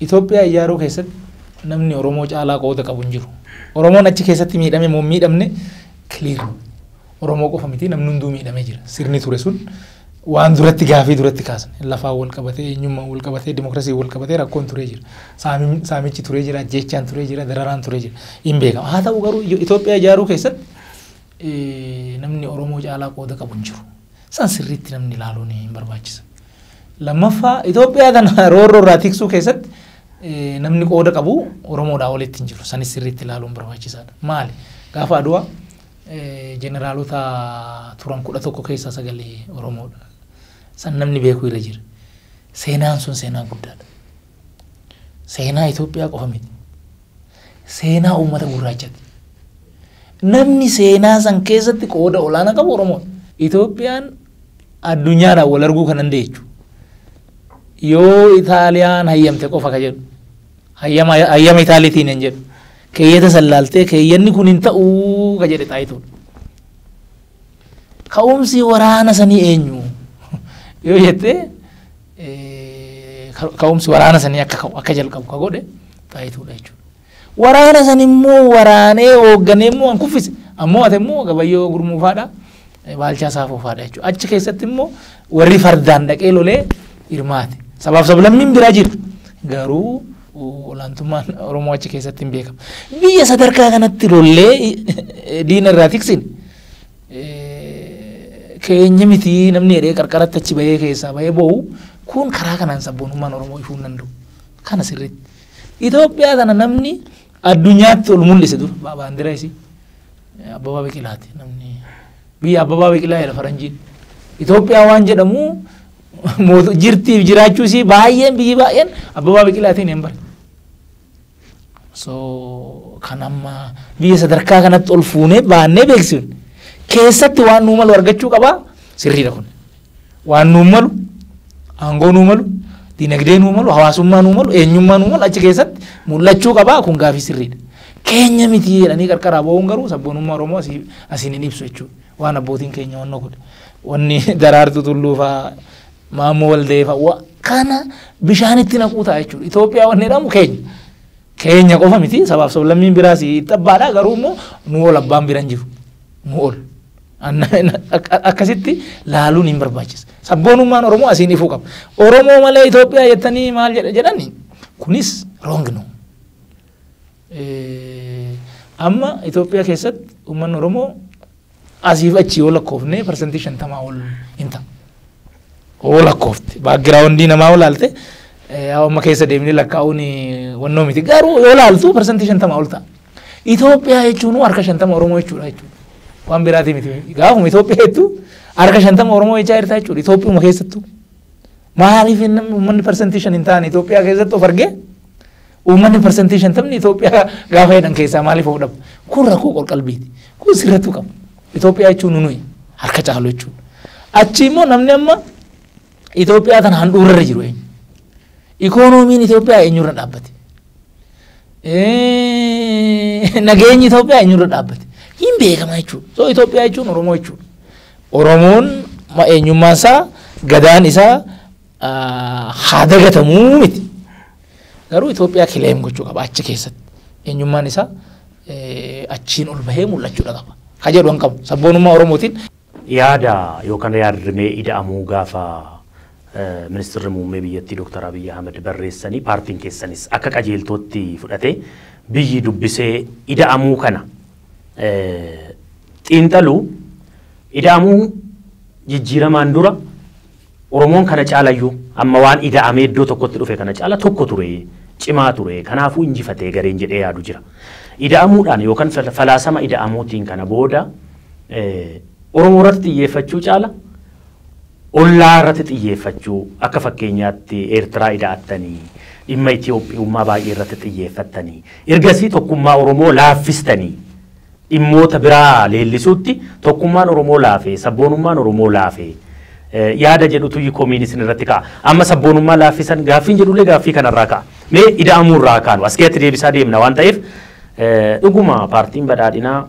Itoophiyaa ijaaruu keessatti namni Oromoo caalaa qooda qabu hin jiru. Oromoon achi keessatti miidhame moo miidhamne kiliir Oromoo qofa miti namni hunduu miidhamee jira. Sirni ture sun waan duratti gaafii duratti kaasne lafaan wal qabatee eenyummaan wal qabatee dimokiraasiin wal qabatee rakkoon turee jira. Saamiin- Saamichi turee jira, ajjeechaan turee jira, dararaan turee jira. Hin beekamu. Haa ta'u garuu Itoophiyaa ijaaruu keessatti namni Oromoo caalaa qooda qabu hin jiru. San sirriitti namni ilaaluun hin barbaachisa. Lammaffaa Itoophiyaa kana roorroo irraa tiksuu keessatti namni qooda qabu Oromoodhaa olitti hin jiru. Sanis sirriitti ilaaluun barbaachisaadha. Maali? Gaafa Adwaa jeneraalota turan kudha tokko keessaa sagalee Oromoodha. San namni beekuu irra jira. Seenaan sun seenaa guddaadha. Seenaa Itoophiyaa qofa miti. Seenaa uummata gurraachati. Namni seenaa san keessatti qooda olaanaa qabu Oromoodha. Itoophiyaan addunyaadhaan wal arguu kan dandeechu yoo Itaaliyaan hayyamte qofa ka jedhu hayyama hayyama Itaaliitiin hin jedhu keeyyata san laaltee keeyyanni kun hin ta'u ka jedhe xaayituudha. Ka'umsi waraana sanii eenyu yoo jettee ka'umsi waraana sanii akka ka'u akka jalqabu ka godhe xaayituudha jechuudha. Waraana san immoo waraanee hoogganee immoo an kuffise ammoo ate immoo gabayyoo gurmuufaadha baalchaa saafuufaadha jechuudha. Achi keessatti immoo warri fardaan dhaqee lolee hirmaate. Sabaaf sablammiin biraa jira garuu olaantummaan Oromoo achi keessatti hin beekamu. Biyya sadarkaa kanatti lollee diina irraa tiksine. keenya miti namni jedhee qarqaratti achi bahee keessaa bahee boo'u kun karaa kanaan sabboonummaan Oromoo ifuu hin danda'u. Kana sirriitti. Itoophiyaa kana namni addunyaatti ol mul'ise dur baandira isii Abbabaa Biqilaati namni biyya Abbabaa Biqilaa jedha faranjiin. Itoophiyaa waan jedhamu jirtiif jiraachuu isii baay'een biyyi baay'een Abbabaa Biqilaatiin hin bare. So kan amma biyya sadarkaa kanatti ol fuunee baannee beeksifne keessatti waan nuu malu argachuu qabaa sirriidha kun. Waan nuu malu aangoo nuu malu dinagdee nuu malu hawaasummaa nuu malu eenyummaa nuu malu achi keessatti mul'achuu qabaa kun gaafii sirriidha. Keenya miti jedhanii qarqaraa ba'uun garuu sabboonummaa Oromoo asii asiin hin ibsu jechuudha. Waan abbootiin keenya wannoo godhe. Wanni daraartuu tulluu fa'aa Maammoo Waldee fa'a kana bishaanitti naquu ta'a jechuudha. Itoophiyaa wanni jedhamu keenya. Keenya qofa miti sabaaf sablammiin biraas itti abbaadha garuu immoo nu ol abbaan biran jiru. Nu ol. Akkasitti laaluun hin barbaachisa. Sabboonummaan Oromoo asiin ifuu qaba. Oromoo malee Itoophiyaa jettanii maal jedhani kunis roong nu. Amma Itoophiyaa keessatti uummanni Oromoo asiif achi yoo lakkoofne parsantii shantamaa ol hin ta'a. Oo lakkoofte baakgiraawundii namaa yoo laalte amma keessa deemnee lakkaa'uun wannoo miti garuu yoo laaltu parsantii shantamaa ol ta'a. Itoophiyaa jechuun harka shantama Oromoo jechuudha jechuudha. Waan biraatii miti. Gaafuma Itoophiyaa jettu harka shantama Oromoo jechaa jirta jechuudha. Itoophiyuma keessattuu. Maaliif namni uummanni parsantii shan hin taane Itoophiyaa keessatti of argee Uummanni parsantii shantamni Itoophiyaa gaafa jedhan keessaa maaliif of dhabu? Kun rakkoo qorqalbiiti. Kun sirrattuu qaba. Itoophiyaa jechuun nuyi harka caalu jechuudha. Achi immoo namni amma Itoophiyaa tana handhuurarra jiru eenyu? Ikoonomiin Itoophiyaa eenyurra dhaabbate? Nageenyi Itoophiyaa eenyurra dhaabbate? Hin beekama jechuudha. So Itoophiyaa jechuun Oromoo jechuudha. Oromoon eenyummaan isaa gadaan isaa haa dagatamuu miti. Garuu Itoophiyaa kileem gochuu qaba achi keessatti. Eenyummaan isaa achiin ol bahee mul'achuudha qaba. Ka jedhu hin qabu. Sabboonummaa Oromootiin. Yaada yookaan yaadrimee ida'amuu gaafa ministirri muummee biyyattii Dooktar Abiyyi Ahmed barreessanii paartiin keessanis akka qajeeltootti fudhatee biyyi dubbisee ida'amuu kana xiinxaluu ida'amuu jijjiiramaan dura Oromoon kana caalayyuu amma waan ida'amee iddoo tokkotti dhufe kana caala tokko ture, cimaa ture, kanaafuu injifate gareen jedhee yaadu jira. Ida'amuudhaan yookan falaasama ida'amuutiin kana booda Oromoo irratti xiyyeeffachuu caala ollaa irratti xiyyeeffachuu akka fakkeenyaatti Eertiraa ida'attanii, dhimma Itoophiyummaa baay'ee irratti xiyyeeffattanii, ergasii tokkummaa Oromoo laaffistanii dhimmoota biraa leellisuutti tokkummaan Oromoo laafe, sabboonummaan Oromoo laafe yaada jedhutuyyi komiin isin irratti ka'a. Amma sabboonummaa laaffisan gaaffiin jedhullee gaaffii kanarraa ka'a. Mee Ida'amuu irraa haa kaanu. As keessatti deebisaa deemna waan ta'eef dhuguma paartiin badhaadhinaa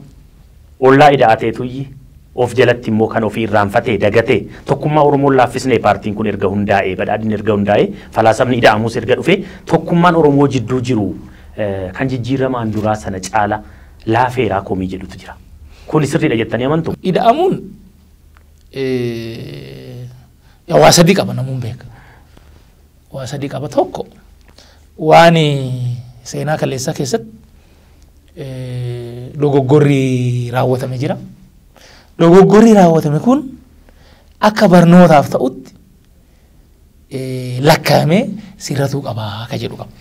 ollaa ida'ateetuyyi of jalatti immoo kan ofii irraanfatee dagatee tokkummaa Oromoon laaffisnee paartiin kun erga hundaa'ee badhaadhinni erga hundaa'ee falaasamni ida'amuus erga dhufee tokkummaan Oromoo jidduu jiru kan jijjiiramaan duraa sana caala laafeeraa komii jedhutu jira. Kuni sirriidha jettanii amantu? Ida'amuun yaa waa sadii qaba namuun beeka. Waa sadii qaba tokko waan seenaa kaleessaa keessatti dogoggorri raawwatame jira. Dogoggorri raawwatame kun akka barnootaaf ta'utti lakkaa'amee sirratuu qabaa akka jedhu qaba.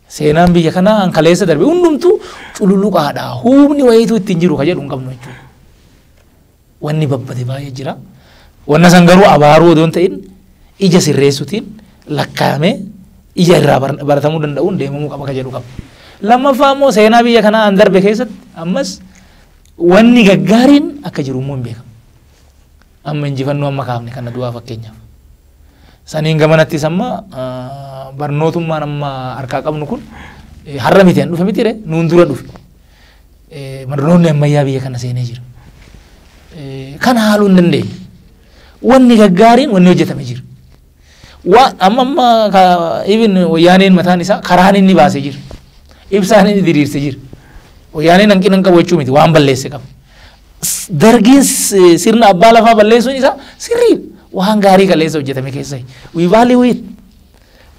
Seenaan biyya kanaa an kaleessa darbe hundumtuu cululuqaadha. Humni wayiitu ittiin jiru ka jedhu hin qabnu jechuudha. Wanni babbade baay'ee jira. Wanna san garuu abaaruu odoo hin ta'in ija sirreessutiin lakkaa'amee ija irraa bar- baratamuu danda'uun deemamuu qaba ka jedhu qaba. Lammaffaa immoo seenaa biyya kanaa an darbe keessatti ammas wanni gaggaariin akka jiru immoo hin beekamu. Amma injifannoo amma kaafne kana du'aa fakkeenyaaf. Saniin gamanattis amma barnootummaan amma harkaa qabnu kun har'a miti an dhufe mitire nuun dura dhufe. Barnoonni ammayyaa biyya kana seenee jira. Kan haaluu hin dandeenye. Wanni gaggaariin wanni hojjetame jira. Waan amma amma ka even wayyaaneen mataan isaa karaan inni baasee jira. Ibsaan inni diriirse jira. Wayyaaneen hanqina hin qabu jechuu miti waan balleesse qaba. S- Dargiin s- sirna abbaa lafaa balleessuun isaa sirrii waan gaarii kaleessa hojjetame keessa. We value it.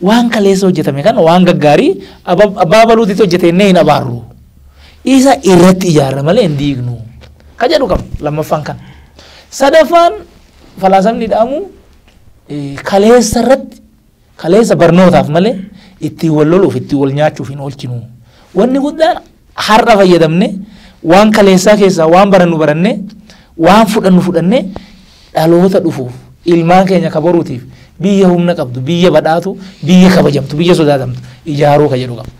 Waan kaleessa hojjetame kana waan gaggaarii aba- abbaa baluutti hojjete innee hin abaarru. Isa irratti ijaarra malee hin diignu. Ka jedhu qaba lammaffaan kana. Sadaffaan falaasamni dhaamu kaleessa irratti kaleessa barnootaaf malee ittiin wal loluuf ittiin wal nyaachuuf hin oolchinu. Wanni guddaan har'a fayyadamne waan kaleessaa keessaa waan barannu barannee waan fudhannu fudhannee dhaloota dhufuuf ilmaan keenya kabaruutiif biyya humna qabdu biyya badhaatu biyya kabajamtu biyya sodaatamtu ijaaruu ka jedhu qaba.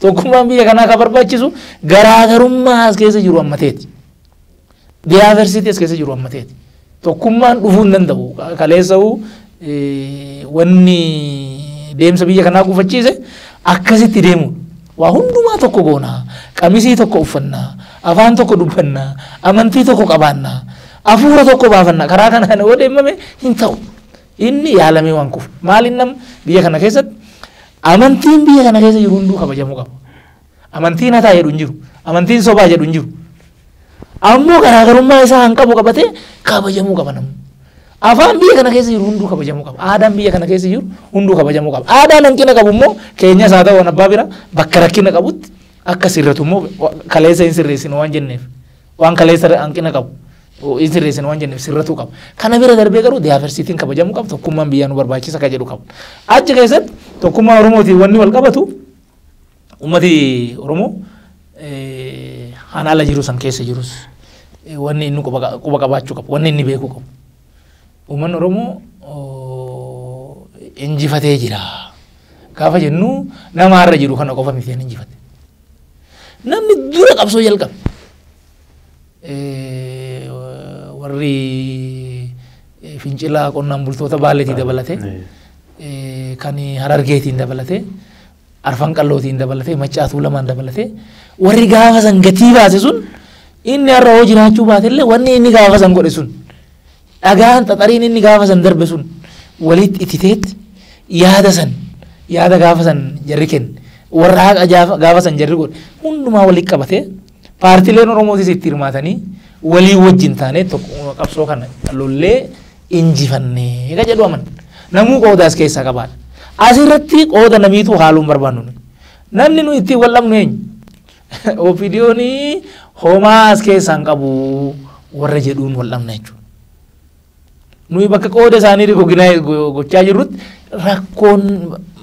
Tokkummaan biyya kanaa kan barbaachisu garaagarummaa as keessa jiru ammateeti. Diyaaversiitii as keessa jiru ammateeti. Tokkummaan dhufuu hin danda'u. Kaleessa'u wanni deemsa biyya kanaa gufachiise akkasitti deemudha. Waa hundumaa tokko goona. Qamisii tokko uffanna. Afaan tokko dubbanna. Amantii tokko qabaanna. Afuura tokko baafanna. Karaa kanaan yoo deemame hin ta'u. Inni yaalamee waan kufu. Maaliin nam biyya kana keessatti amantiin biyya kana keessa jiru hunduu kabajamuu qaba. Amantiin hataa jedhu hin jiru. Amantiin sobaa jedhu hin jiru. Ammoo garaagarummaa isaa kan qabu qabatee kabajamuu qaba namni. Afaan biyya kana keessa jiru hunduu kabajamuu qaba. Aadaan biyya kana keessa jiru hunduu kabajamuu qaba. Aadaan hanqina qabu immoo keenyas haa ta'u abbaa bira bakka rakkina qabutti akka sirratu immoo kaleessa hin sirreessinu waan jenneef. Waan kaleessa irra hanqina qabu hin sirreessine waan jenneef sirratuu qaba. Kana bira darbee garuu diyaaversiitiin kabajamuu qaba tokkummaan biyyaa nu barbaachisa kan jedhu qaba. Achi keessatti tokkummaa Oromootiin wanni wal qabatu uummati Oromoo hanaala jiru san keessa jirus wanni inni quba qabaachuu qabu wanni inni beekuu qabu. Uummanni Oromoo injifatee jira. Gaafa jennu nama har'a jiru kana qofa miti kan injifate. Namni dura qabsoo jalqabe eh, warri eh, fincilaa qonnaan bultoota baaleetii dabalate eh, kan harargeetiin dabalate arfan qallootiin dabalate maccaatuu lamaan dabalate warri gaafa san gatii baase sun inni har'a hoo jiraachuu baate illee wanni inni gaafa san godhe sun Dhagaan xaxariin inni gaafa san darbe sun walitti ititeet yaada san yaada gaafa san jarri kenne warra haqa jaafa- gaafa san jarri godhe hundumaa walitti qabatee paartileen Oromootis itti hirmaatanii walii wajjin taanee tokko qabsoo kana lollee injifannee ka jedhu aman namuu qoodaas keessaa qabaadha. Asirratti qooda namiitu haaluun barbaannu nuyi. Namni nuyi ittiin wal dhabnu eenyu? OPDOn homaa as keessaa hin qabu warra jedhuun wal dhabna jechuudha. Nuyi bakka qooda isaanii rigoginaa gochaa jirrutti rakkoon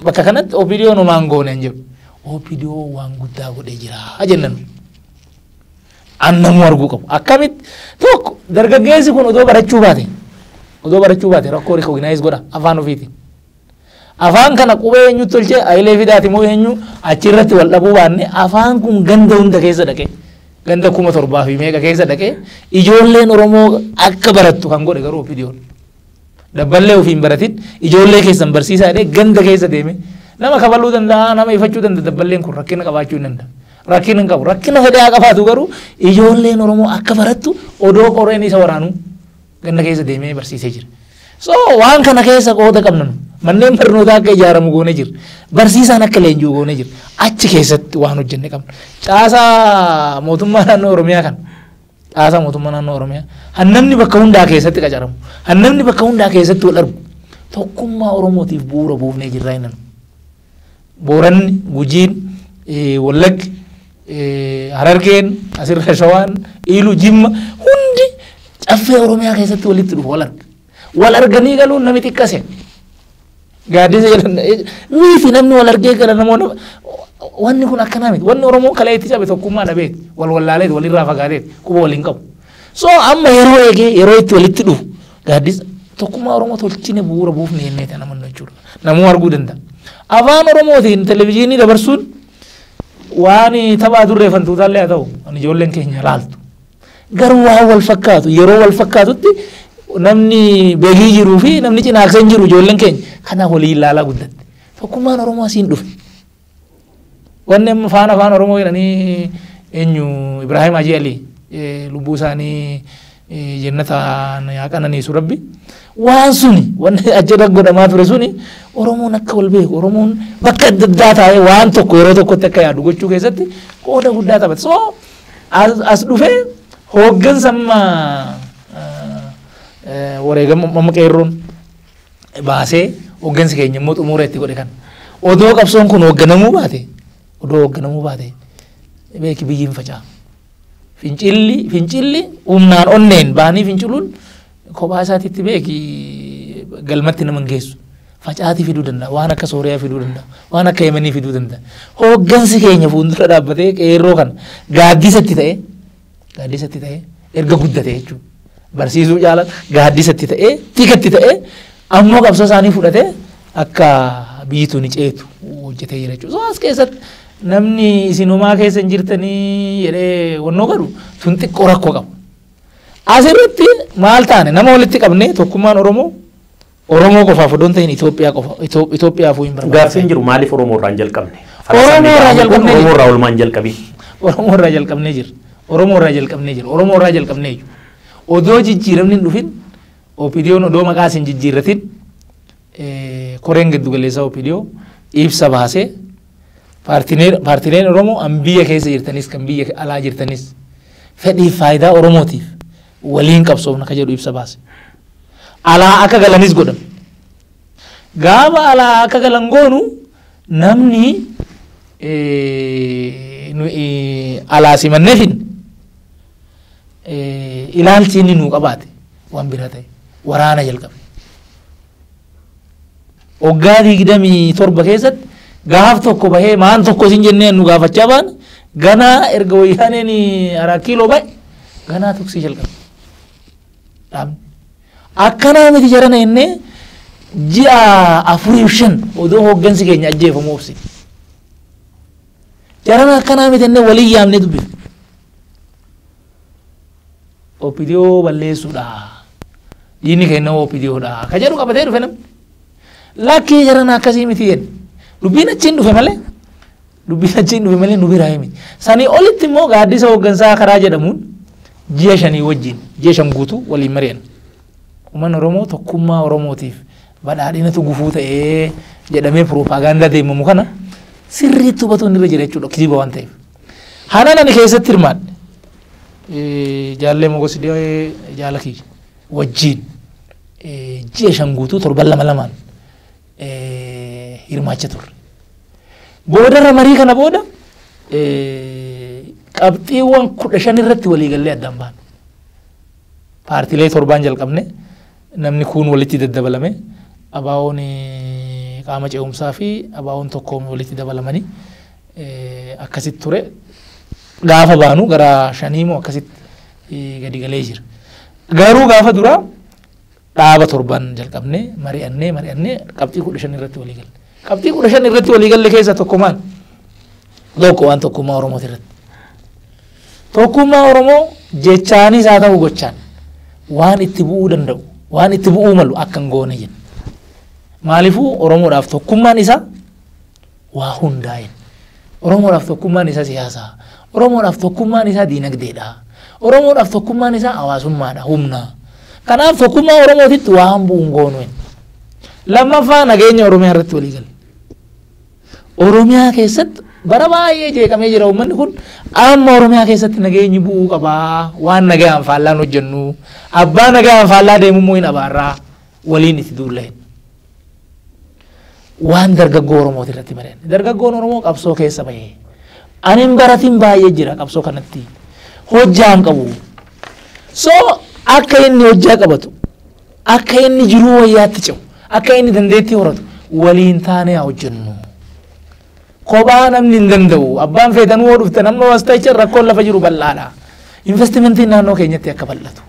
bakka kanatti OPDOn homaa hin goone hin jedhu. OPDO waan guddaa godhee jira jennan. Annamuu arguu qabu. Akkamitti tokko dargaggeessi kun odoo barachuu baate odoo barachuu baate rakkoo rigoginaayiz godha afaan ofiitiin. Afaan kana qubee eenyutu tolche Hayilee Fidaati moo eenyu achi irratti wal dhabuu baanne afaan kun ganda hunda keessa dhaqee ganda kuma torbaa fi meeqa keessa dhaqee ijoolleen Oromoo akka barattu kan godhe garuu ofidiyoon. Dabballee ofiin baratin ijoollee keessan barsiisaa jedhee ganda keessa deeme nama kabaluu danda'a nama ifachuu danda'a dabballeen kun rakkina qabaachuu hin danda'a. Rakkina hin qabu rakkina fedhaa qabaatu garuu ijoolleen Oromoo akka barattu odoo qoreen isa waraanuu. Ganna keessa deemee barsiisee jira. So waan kana keessa qooda qabna nu. Manneen barnootaa akka ijaaramu goone jira. Barsiisaan akka leenji'u goone jira. Achi keessatti waan hojjenne qabna. Caasaa mootummaa naannoo Oromiyaa kana. Caasaa mootummaa naannoo Oromiyaa. Hannamni bakka hundaa keessatti qacaramu. Hannamni bakka hundaa keessatti wal argu. Tokkummaa Oromootiif bu'uura buufnee jirraa inni. Booranni, Gujiin, Wallaggi, Harargeen, asirra Shawaan, Iilu, Jimma hundi caffee Oromiyaa keessatti walitti dhufu wal arga. Wal arganii galuun nami xiqqase. Gaaddisa jedhan miiti namni wal argee gala namoota wanni kun akkanaa miti. Wanni Oromoon kalee itti cabe tokkummaa dhabeeti. Wal wallaalee walirraa fagaateeti. Quba waliin qabu. So amma yeroo eegee yeroo itti walitti dhufu Gaaddisa tokkummaa Oromoo tolchine bu'uura buufne jennee kan amannu jechuudha. Namuu arguu danda'a. Afaan Oromootiin televizyiinii dabarsuun waan taphaa turree fantuutaallee haa ta'u kan ijoolleen keenya laaltu. Garuu waan wal fakkaatu yeroo wal fakkaatutti namni beekii jiruu fi namni cinaakseen jiru ijoolleen keenya kana waliin ilaalaa guddatte. Tokkummaan Oromoo asiin dhufe. Wanni amma faana afaan Oromoo jedhanii eenyu Ibrahim Hajii Alii lubbuu isaanii jennataan yaa qananiisu rabbi. Waan suni wanni ajjada godhamaa ture suni Oromoon akka wal beeku Oromoon bakka adda addaa taa'ee waan tokko yeroo tokkotti akka yaadu gochuu keessatti qooda guddaa taphata. So as dhufee hooggansa amma wareegama amma qeerroon baasee hooggansi keenya immoo xumuura itti godhe kana. Odoo qabsoon kun hoogganamuu baate odoo hoogganamuu baate beeki biyyi hin faca'a. Fincilli fincilli humnaan onneen baanii finciluun kophaa isaatiitti beeki galmatti nama hin geessu. Facaatii fiduu danda'a waan akka sooriyaa fiduu danda'a waan akka yemanii fiduu danda'a. Hooggansi keenya fuuldura dhaabbatee qeerroo kana gaaddisa itti ta'ee Gaaddisatti ta'ee erga guddate jechuudha. Barsiisuu caalaa gaaddisatti ta'ee tikatti ta'ee ammoo qabsoo isaanii fudhatee akka biyyi tuni ceetu hojjetee jira jechuudha. As keessatti namni isinumaa keessa hin jirtanii jedhee wannoo godhu tun xiqqoo rakkoo qaba. Asirratti maal taane nama walitti qabnee tokkummaan Oromoo Oromoo qofaaf odoo hin ta'in Itoophiyaa qofa Itoo- Itoophiyaafuu hin Gaaffiin barbaachisan. jiru maaliif Oromoo irraa hin jalqabne? Oromoo irraa Falasamni jalqabne Oromoo irraa olmaa hin jalqabin. Oromoo irraa jalqabnee jirra. Oromoo irraa jalqabnee jirra. Oromoo irraa jalqabnee jirra. Odoo jijjiiramni hin dhufin OPDOn odoo maqaas hin jijjiirratin eh, koreen giddu galeessaa OPDO ibsa baasee paartileen paartileen Oromoo an biyya keessa jirtanis kan biyya alaa jirtanis fedhiif faayidaa Oromootiif waliin qabsoofna ka jedhu ibsa baase. Alaa akka galanis godhan. Gaafa alaa akka galan goonu namni alaa simannee finne ilaalchi inni nuu qabaate waan biraa ta'e waraana jalqabe. Waggaa digdamii torba keessatti gaaf tokko bahee maan tokko isin jennee nu gaafachaa baane ganaa erga wayyaaneen araa kiiloo ba'e ganaa tuksii jalqabe. Dhaabni. Akkanaa miti jarana jennee ji'a afuriif shan odoo hooggansi keenya ajjeefamu obsine. Jarana akkanaa miti jennee walii yaamnee dubbifne. OPDO balleessuudha. Diinni keenya OPDO dha. Ka jedhu qabatee dhufe namni. Lakkii jaran akkasii miti jedhe. Dubbiin achiin dhufe malee dubbiin achiin dhufe malee nu biraa himi. Sanii olitti immoo gaaddisa hooggansaa karaa jedhamuun ji'a shanii wajjin ji'a shan guutuu waliin mari'an. Uummanni Oromoo tokkummaa Oromootiif badhaadhinatu gufuu ta'ee jedhamee piroopaagaandaa deemamu kana sirriitti hubatuun irra jira jechuudha kijiba waan ta'eef. Hanan ani keessatti hirmaadhe eh, jaallee mogosidee jaala kiyya wajjiin eh, ji'a shan guutuu torban lama lamaan eh, hirmaacha turre. Boodarra marii kana booda eh, qabxiiwwan kudha shan irratti waliigallee addaan baane. Paartilee torbaan jalqabne namni kuun walitti daddabalame abaawoon eh, qaama ce'umsaa fi abaawoon tokkoon walitti dabalamanii akkasitti ture. Gaafa baanu gara shanii moo akkasitti gadi galee jira. Garuu gaafa duraa dhaaba torban jalqabnee mari'annee mari'annee qabxii kudha shan irratti walii galle. Qabxii kudha shan irratti walii galle keessa tokko maal? Tokko waan tokkummaa Oromoo irratti. Tokkummaa Oromoo jechaanis haa ta'u gochaan waan itti bu'uu danda'u waan itti bu'uu malu akka hin goone jenna. Maaliifuu Oromoodhaaf tokkummaan isaa waa hundaa'een. Oromoodhaaf tokkummaan isaa siyaasa. Oromoodhaaf tokkummaan isaa diinagdeedha. Oromoodhaaf tokkummaan isaa hawaasummaadha, humna. Kanaaf tokkummaa Oromootitti waan bu'u hin goonu. Lammaffaa nageenya Oromiyaa irratti walii galle. Oromiyaa keessatti bara baay'ee jeeqamee jira uummanni kun amma Oromiyaa keessatti nageenyi bu'uu qaba waan nagaan faallaan hojjennu abbaa nagaan faallaa deemummoo hin abaarraa waliin itti duulla hin. waan dargaggoo Oromooti irratti mari'anne. Dargaggoon Oromoo qabsoo keessa bahee. Ani hin baratin baay'ee jira qabsoo kanatti. Hojjaa hin qabu. So akka inni hojjaa qabatu, akka inni jiruu wayyaatti ce'u, akka inni dandeettii horatu waliin taanee haa hojjennu. Kophaa namni hin danda'u. Abbaan feetanuu yoo dhuftan amma wastaichan rakkoon lafa jiru bal'aadha. Investimentiin naannoo keenyatti akka bal'atu.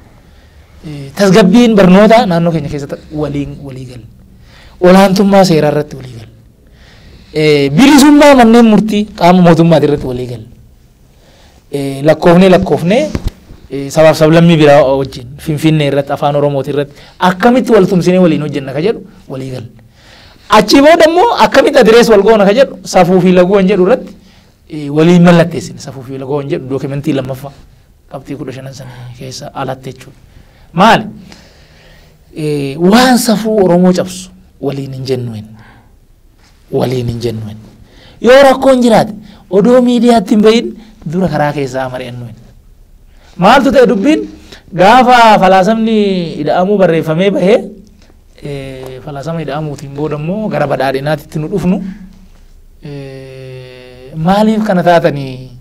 Tasgabbiin barnootaa naannoo keenya keessatti waliin walii galu. Olaantummaa seeraa irratti walii galu. Bilisummaa manneen murtii qaama mootummaati irratti walii galu. Lakkoofnee lakkoofnee sabaaf sablammii biraa wajjin finfinnee irratti afaan oromooti irratti akkamitti wal tumsinee waliin hojjenna ka jedhu walii galu. Achii booda immoo akkamitti adirees wal goona ka jedhu safuu fi laguu kan jedhu irratti eh, waliin mallatteessine safuu fi laguu kan jedhu dookimentii lammaffaa qabxii kudha shanan sana keessa alatti jechuudha. Maali? Eh, Waan safuu Oromoo cabsu waliin hin jennu hin. Waliin hin jennu hin. Yoo rakkoon jiraate odoo miidiyaatti hin bahin dura karaa keessaa mari'annu hin. Maaltu ta'e dubbiin gaafa falaasamni ida'amuu barreeffamee bahee Falaasama ida'amuutiin booda immoo gara badhaadhinaatitti nu dhufnu. Maaliif kana taatanii?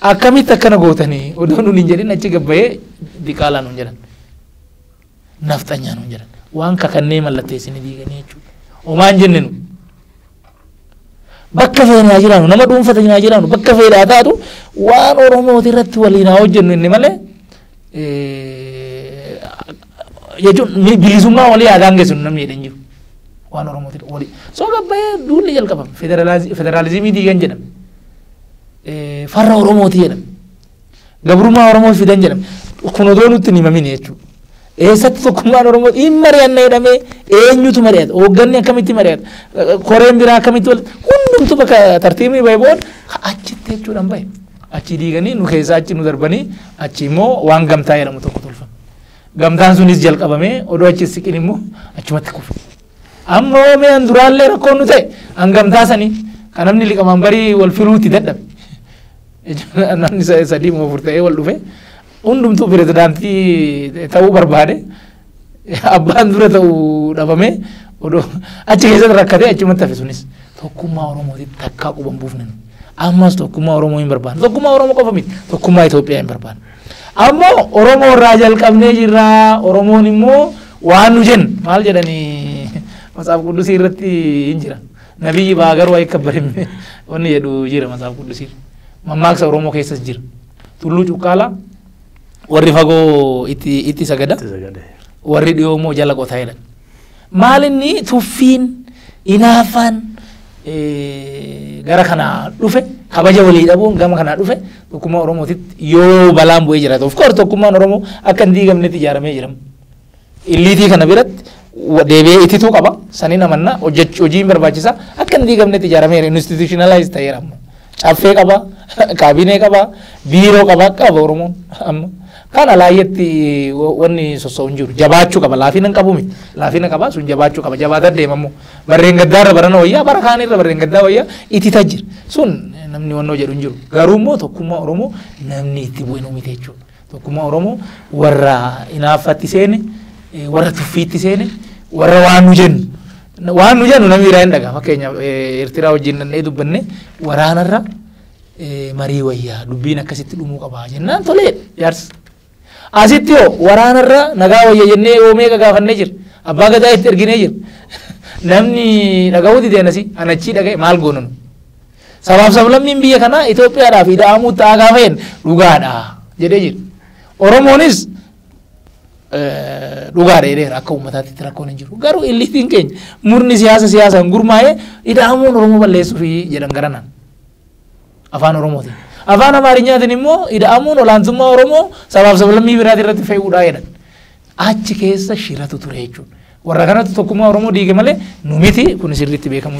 Akkamitti akkana gootanii? Odoo nuun hin jedhin achi gabbayee diqaalaa nuun jedhan. Nafxanyaa nuun jedhan. Waan kakannee mallatteessine diiganii jechuudha. Omaan jenne nu. Bakka feene haa jiraannu, nama dhuunfa ta'in haa jiraannu, bakka feene haa taatu waan Oromooti irratti waliin haa hojjennu inni malee jechuun bilisummaa walii haa daangessinu namni jedhan jiru. Waan Oromooti walii. So gabbayee duulli jalqabame federaalizimii diigan jedhame. Farra Oromooti jedhame. Gabrummaa Oromoo fidan jedhame. Kun odoo nutti hin himamine jechuudha. Eessatti tokkummaan Oromoo hin mari'anna jedhamee eenyutu mari'ata? Hoogganni akkamitti mari'ata? Koreen biraa akkamitti wal hundumtu bakka tartiibni bahe booda achitti jechuudhaan bahe. Achii diiganii nu keessaa achi nu darbanii achi immoo waan gamtaa jedhamu tokko tolfame. Gamtaan sunis jalqabamee odoo achi siqin immoo achumatti kufe. Amma hoo mee an duraallee rakkoon nu ta'e an gamtaa sanii kan namni liqamaan barii wal filuutti dadhabe. Namni sa- sadii moo afur ta'ee wal dhufe hundumtuu pirezidaantii ta'uu barbaade abbaan dura ta'uu dhabamee odoo achi keessatti rakkatee achumatti hafe sunis tokkummaa Oromootiif takkaa quban buufne nu. Ammas tokkummaa Oromoo hin barbaanne. Tokkummaa Oromoo qofa miti. Tokkummaa Itoophiyaa hin barbaanne. Amma Oromoo irraa jalqabnee jirra. Oromoon immoo waan nu jennu maal jedhani matsaaf quddusii irratti hin jira. Nabiyyi baa garuu akka barimne wanni jedhu jira matsaaf quddusii. Mammaaksa Oromoo keessas jira. Tulluu cuqqaalaa warri fagoo itti itti sagada Itti sagade. warri dhiyoo immoo jala qotaa jedhan. Maalinni tuffiin, inaaffaan gara kanaa dhufe kabaja walii dhabuun gama kanaa dhufe tokkummaa Oromootitti yoo balaan bu'ee jiraate. Of course tokkummaan Oromoo akka hin diigamnetti ijaaramee jira. Illiitii kana biratti deebi'ee itituu qaba. Saniin amannaa hojjechuun barbaachisa. Akka hin diigamnetti ijaaramee jira. Institutionalize ta'eera amma. Caffee qaba, kaabinee qaba, biiroo qaba akka qaba Oromoon amma. Kan alaayyatti wanni sossa'u hin jiru. Jabaachuu qaba. Laafina hin qabu miti. Laafina qaba sun jabaachuu qaba. Jabaataa deema immoo. Barreen gaddaa irra barana wayyaa bara kaan irra barreen gaddaa wayyaa itti tajjira. Sun namni wannoo jedhu hin jiru. Garuu immoo tokkummaa Oromoo namni itti bu'e nu miti jechuudha. Tokkummaa Oromoo warra inaaffatti seene, warra tuffiitti seene, warra waan nu jennu waan nu jennu namni biraa hin dhagaa fakkeenyaaf Eertiraa wajjin dhannee dubbanne waraanarra marii wayyaa dubbiin akkasitti dhumuu qabaa jennaan tolee jaarsi. Asitti hoo waraanarra nagaa wayya jennee yoo meeqa gaafannee jira abbaa gadaa itti erginee jira namni dhaga'uu dideenasi anachii dhaga'e maal goonanu. Sabaaf sablammiin biyya kanaa Itoophiyaadhaaf ida'amuu ta'aa gaafa jedhan dhugaadha jedhee jedhu. Oromoonis dhugaadha jedheera akka uummataatti rakkoon hin jiru. Garuu illiitiin keenya murni siyaasa siyaasaan gurmaa'ee ida'amuun Oromoo balleessuufi jedhan garanaan. Afaan Oromootiin. Afaan Amaarinyaatiin immoo ida'amuun olaantummaa Oromoo sabaaf sablammii biraatii irratti fe'uudhaa jedhan. Achi keessa shiratu ture jechuudha. Warra kanatu tokkummaa Oromoo diige malee nu miti kun sirriitti beekamu